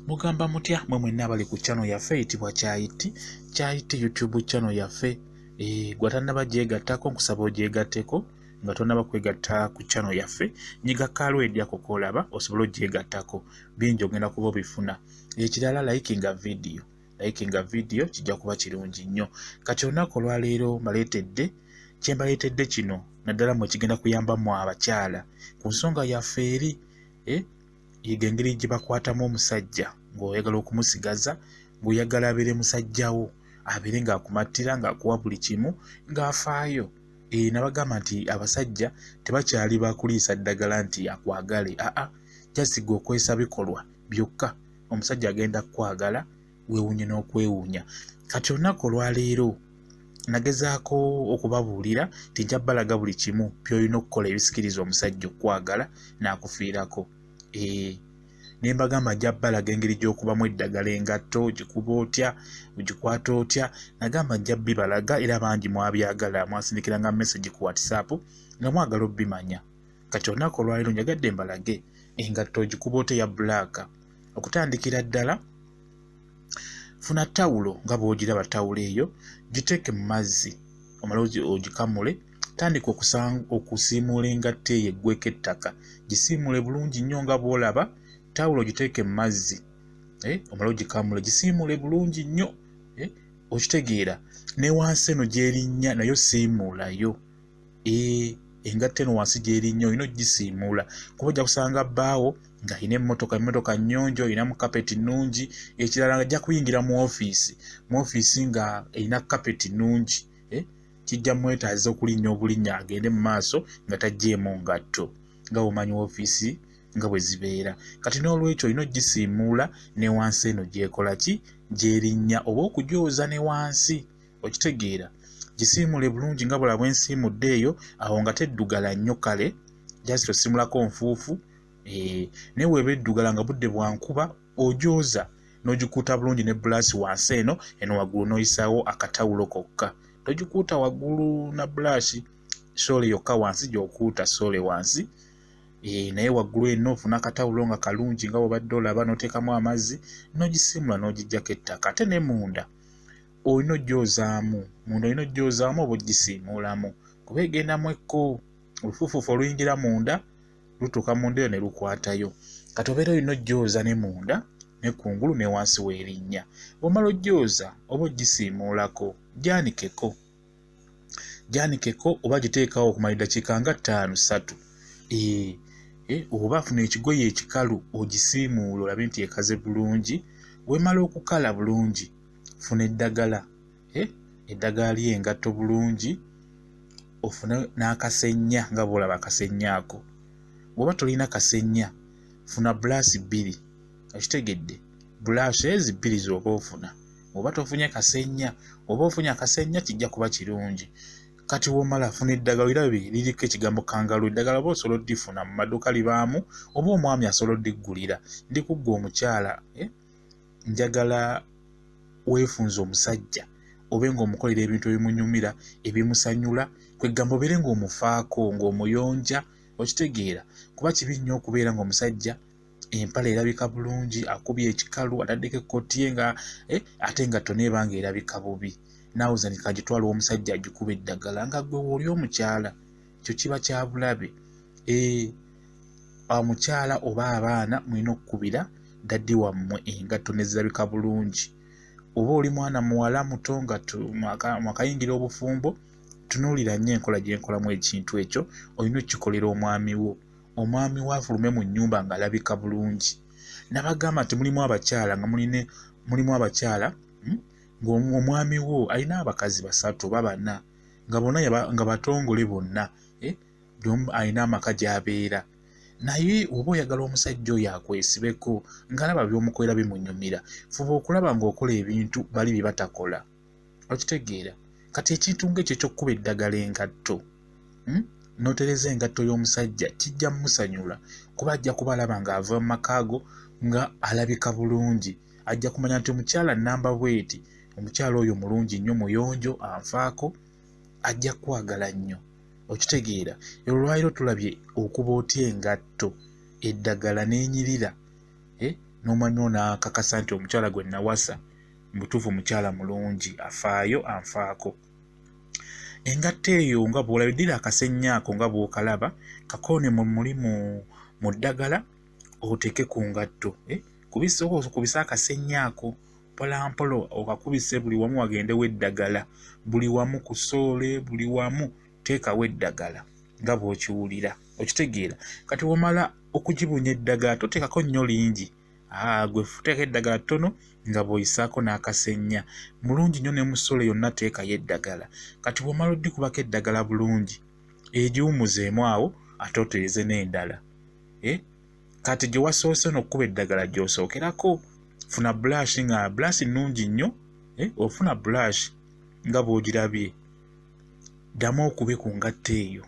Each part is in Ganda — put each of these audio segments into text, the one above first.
mugamba mutya mwe mwenna abali ku kyano yaffe eyitibwa kyayiti kyayiti youtube kyano yaffe eh, gwe atannaba gyegattako nkusaba ogyegatteko nga tonaba kwegatta ku kyano yaffe nyiga kaalo edyako kolaba osobole ogyegattako bingi ogenda kuba obifuna ekirala likinga vidiyo likinga vidiyo kijja kuba kirungi nnyo kati olunaku olwaleero mbaleetedde kyembaleetedde kino naddala mwe kigenda kuyambamu abakyala ku nsonga yaffe eri eh, yiga engeri gye bakwatamu omusajja ng'oyagala okumusigaza ng'oyagala abeere musajja wo abeere ng'akumattira ng'akuwa buli kimu ng'afaayo e nabagamba nti abasajja tebakyali bakuliisa ddagala nti akwagale aa jasiga okwesa bikolwa byokka omusajja agenda kukwagala weewuunye n'okwewuunya kati olunaku olwaleero nagezaako okubabuulira nti nja balaga buli kimu byolina okukola ebisikiriza omusajja okukwagala n'akufiirako ee ne mbagamba nja balaga engeri gy'okubamu eddagala engatto ogikuba otya ogikwata otya nagamba nja bibalaga era bangi mwabyagala mwasindikira nga message ku whatsapp nga mwagala obimanya kati olunaku olwaleero njagadde mbalage engatto ogikuba otya ya bulaaka okutandikira ddala funa tawulo nga bw'ogiraba tawulo eyo giteeke mu mazzi omala ogikamule tandika okusiimuula engatto eyo eggweko ettaka gisiimuule bulungi nnyo nga bw'olaba tawulo giteeke mu mazzi eh, omala ogikamule gisiimuule bulungi nnyo eh, okitegeera ne wansi eno gyerinnya nayo siimuulayo eh, engatto eno wansi gyeri nnyo olina okugisiimuula kuba ojja kusanga bbaawo nga alina emmotoka emmotoka nnyonjo olina mu kapeti nnungi ekirala nga ajja kuyingira mu ofiisi mu ofiisi nga erina kapeti nnungi eh, kijja mwetaaza okulinnya obulinnya agende mu maaso nga tajjeemu ngatto nga womanyi ofiisi nga bwe zibeera kati n'olwekyo olina okugisiimuula ne wansi eno gyekola ki gyerinnya oba okugyoza ne wansi okitegeera gisiimule bulungi nga bula bwensiimudde eyo awo nga teddugala nnyo kale just osimulako nfuufu eh, naye weeba eddugala nga budde bwankuba ojooza n'ogikuuta bulungi ne bulaasi wansi eno eno waggulu n'oyisaawo akatawulo kokka togikuuta waggulu na bulaasi soole yokka wansi gyokuuta soole wansi eh, naye waggulu eno ofuna akatawulo nga kalungi nga bwobadde olaba n'oteekamu amazzi n'ogisiimula n'ogijjako ettaka ate ne munda olina ojjoozaamu munda olina ojjoozaamu oba ojjisiimuulamu kuba egenda mu ekko olufuufuufu oluyingira munda lutuuka munda eyo ne lukwatayo kati obeera olina ojjooza ne munda ne kungulu ne wansi w'erinnya bw'omala ojjooza oba ojjisiimuulako gyanikeko gyanikeko oba giteekawo okumala eddakiika nga ttaano ssatu eh, eh, oba funa ekigoye ekikalu ogisiimuula olabe nti ekaze bulungi wemala okukala bulungi funa eddagala eh, eddagala lyengatto bulungi ofune n'akasenya nga bwolaba akasenya ako bwoba tolina kasenya funa bulaasi bbiri okitegedde bulaasi ezi bbiri zooba ofuna oba tofunye kasenya oba ofunye akasenya kijja kuba kirungi kati womala funa eddagala irabe liriko ekigambo kangalu eddagala oba osobola oddifuna mu maduuka libaamu oba omwami asobola oddiggulira ndi kuggwa omukyala eh? njagala weefunza omusajja obe ng'omukolera ebintu ebimunyumira ebimusanyula kwegamba obeere ng'omufaako ng'omuyonja okitegeera kuba kibi nnyo okubeera ng'omusajja empala erabika bulungi akubye ekikalu ataddeko ekkoti ye nga eh, ate nga tona ebanga erabika bubi naawe zanika gitwala omusajja agikuba eddagala nga gwe wooli omukyala ekyo kiba kyabulabe eh, omukyala oba abaana mulina okukubira daddi wammwe engatto nezirabika bulungi oba oli mwana muwala muto nga mwakayingira obufumbo tunuulira nnyo enkola gyenkolamu ekintu ekyo olina okukikolera omwami wo omwami we afulume mu nnyumba ng'alabika bulungi nabagamba nti mulimu abakyala nga muline mulimu abakyala hmm? ng'omwami wo alina abakazi basatu oba bana nga bona nga batongole bonna eh? alina amaka gy'abeera naye oba oyagala omusajja oyo akwesibeko ng'alaba by'omukolera bimunyumira fuba okulaba ng'okola ebintu bali bye batakola okitegeera kati ekintu ngaekyo ekyokukuba eddagala engatto hmm? notereza engatto y'omusajja kijja mumusanyula kuba ajja kuba alaba nga ava mu makaago nga alabika bulungi ajja kumanya nti omukyala namba bweti omukyala oyo mulungi nnyo muyonjo anfaako ajja kwagala nnyo okitegeera olwaliro tulabye okuba otya engatto eddagala nenyirira eh? nomanywa nakakasa nti omukyala gwe nawasa mubutuufu mukyala mulungi afaayo anfaako engatto eyo nga bwolabidira akasenya ako nga bwokalaba kakoone mu mulimu mu ddagala oteeke ku ngatto eh, kubisa akasenya ako mpolampola okakubise buli wamu wagendewo eddagala buli wamu ku soole buli wamu teekawo eddagala nga bw'okiwulira okitegeera kati womala okugibunya eddagala toteekako nnyo lingi Ah, gwe futeeko eddagala ttono nga bw'oyisaako n'akasenya mulungi nnyo ne mu solo yonna teekayo eddagala kati bw'omala oddikubako eddagala bulungi egiwumuzeemu awo ate otereze n'endala e kati gye wasoose no okukuba eddagala gy'osookerako funa bulashi nga bulashi nnungi nnyo e ofuna bulashi nga bw'ogirabye ddamu okube ku ngatto eyo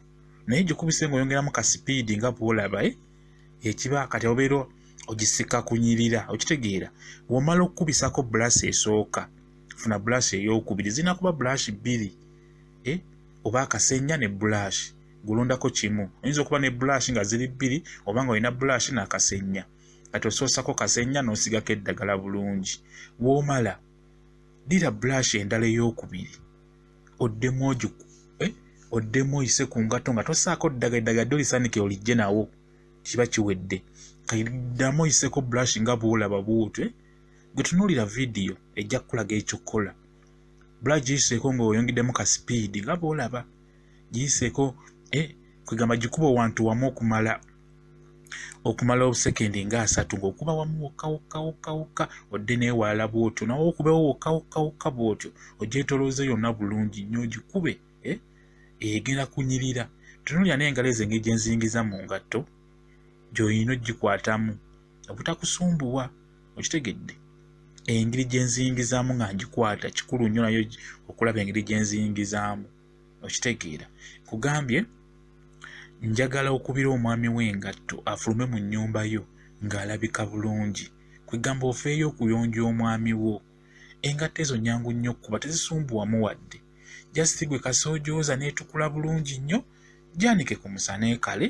naye gikubise ng'oyongeramu ka sipiidi nga bw'olaba e ekiba kati obeera ogisika kunyirira okitegeera womala okukubisako bulaasi esooka funa bulaasi eyokubiri zirina kuba bulaasi bbiri e, oba akasenya ne bulaasi gulondako kimu oyinza okuba ne bulaasi nga ziri bbiri oba nga olina bulaasi n'akasenya kati osoosako kasenya n'osigako eddagala bulungi womala dira bulaasi endala eyokubiri oddemu oju eh, oddemu oyise ku ngato nga tosaako ddaga eddaga dde olisanikira olijje nawo kiba kiwedde kaidamu oyiseko brush nga bwolaba buutwe eh? gwe tunuulira vidiyo ejja kukulaga ekyo kukola bula giyiseeko ng'oyongeddemu ka sipiidi nga bwolaba giyiseeko eh, kwegamba gikuba owantu wamu okumala okumala obusekendi nga asatu ng'okuba wamu wokka wokka wokka wokka odde neewalala bw'otyo nawe okubewo wokka wokka wokka bw'otyo ogyetolooze yonna bulungi nnyo ogikube eh? egenda kunyirira tunulira n'engalo ezo engeri gye nzingiza mu ngatto gy'olina ogikwatamu obutakusumbuwa okitegedde engeri gye nzingizaamu nga ngikwata kikulu nnyo nayo okulaba engeri gye nzingizaamu okitegeera kugambye njagala okubira omwami w'engatto afulume mu nnyumba yo ng'alabika bulungi kwegamba ofeeyo okuyonja omwami wo engatto ezo nyangu nnyo okukuba tezisumbuwamu wadde jasiti gwe kasoojooza n'etukula bulungi nnyo gyanike ku musana ekale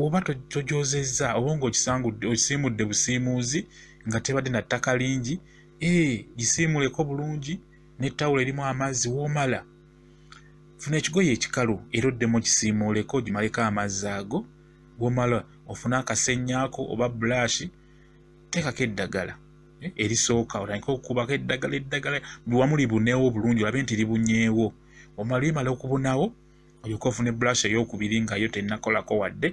oba tojoozezza oba ng'okisangudde okisiimudde busiimuuzi nga tebadde na ttaka lingi ee gisiimuleko bulungi ne tawulo erimu amazzi womala funa ekigoye ekikalu era oddemu okisiimuuleko ogimaleko amazzi ago womala ofune akasennyako oba bulashi teekako eddagala eh, erisooka otandike okukubako eddagala eddagala buli wamu libuneewo obulungi olabe nti libunyeewo omala limala okubunawo olyoka ofune bulashi ey'okubiri nga yo tennakolako wadde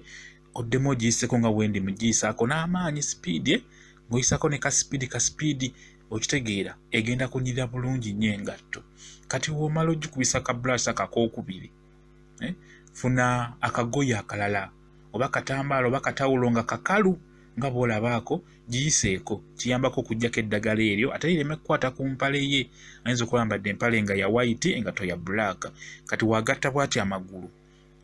oddemu ogiyiseko nga wendi mugiyisaako n'amaanyi sipiidi eh, ng'oyisako ne kasipiidi kasipiidi okitegeera egenda kunyirira bulungi nnyo engatto kati womala ogikubisa ka brush akakokubiri eh? funa akagoye akalala oba katambaala oba katawulo nga kakalu nga bwolabaako giyiseeko kiyambako okujjako eddagala eryo ate lireme kukwata ku mpale ye ayinza okulambadde empale nga ya waiti engato ya bulaaka kati wagatta bwati amagulu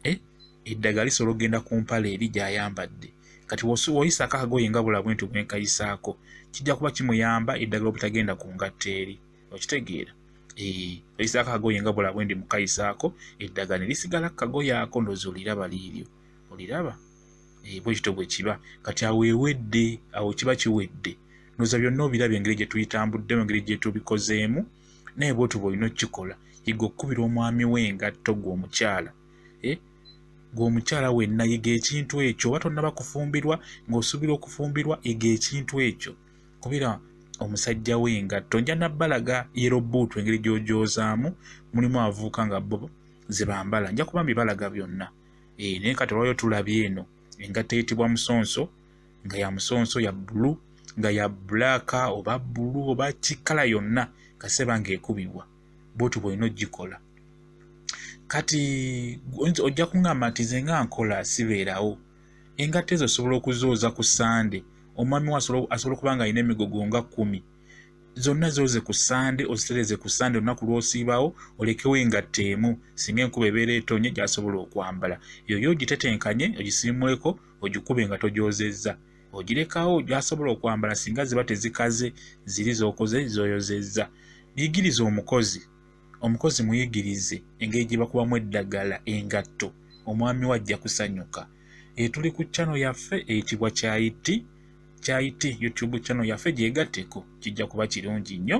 eh, eddagala lisobola okugenda ku mpale eri gy'ayambadde kati woyisaako akagoye nga bula bwenti bwenkayisaako kijja kuba kimuyamba eddagala obutagenda ku ngatto eri okitegeera eh, oyisaako akagoye nga bula bwendi mukayisaako eddagala ne lisigala ku kagoye ako ndoozi oliraba liiryo oliraba eh, bwe kityo bwe kiba kati awo ewedde awo kiba kiwedde noza byonna obiraba engeri gye tuyitambuddemu engeri gye tubikozeemu naye bwotyo bwolina okukikola yiga okukubira omwami we engatto gwe omukyala eh? gwe omukyala wenna yiga ekintu ekyo oba tonnaba kufumbirwa ng'osuubira okufumbirwa yiga ekintu ekyo kubira omusajja we engatto nja nabbalaga yerobuutu engeri gy'ogyozaamu mulimu avuuka nga bo ze bambala nja kuba mbibalaga byonna eh, naye kati olwayo tulabye eno engatto eyitibwa musonso nga ya musonso ya bbulu nga ya bbulaaka oba bbulu oba kikala yonna kaseba ng'ekubibwa bwotyo bwolina ogikola kati ojja kuŋamba nti ze nga nkola sibeerawo engatta ezo osobola okuzooza ku sande omwami we asobola okuba nga alina emigogo nga kumi zonna zooze ku sande ozitereze ku sande olunaku lwosiibawo olekewo engatta emu singa enkuba ebeera etonye gyasobola okwambala yoyo ogitetenkanye ogisiimuleko ogikube nga togyozezza ogirekawo gyasobola okwambala singa ziba tezikaze ziri zokoze zoyozezza muyigirize omukozi omukozi muyigirize engeri gye bakubamu eddagala engatto omwami we ajja kusanyuka etuli ku chano yaffe eyitibwa kyayiti kyayiti youtube chano yaffe gyegatteko kijja kuba kirungi nnyo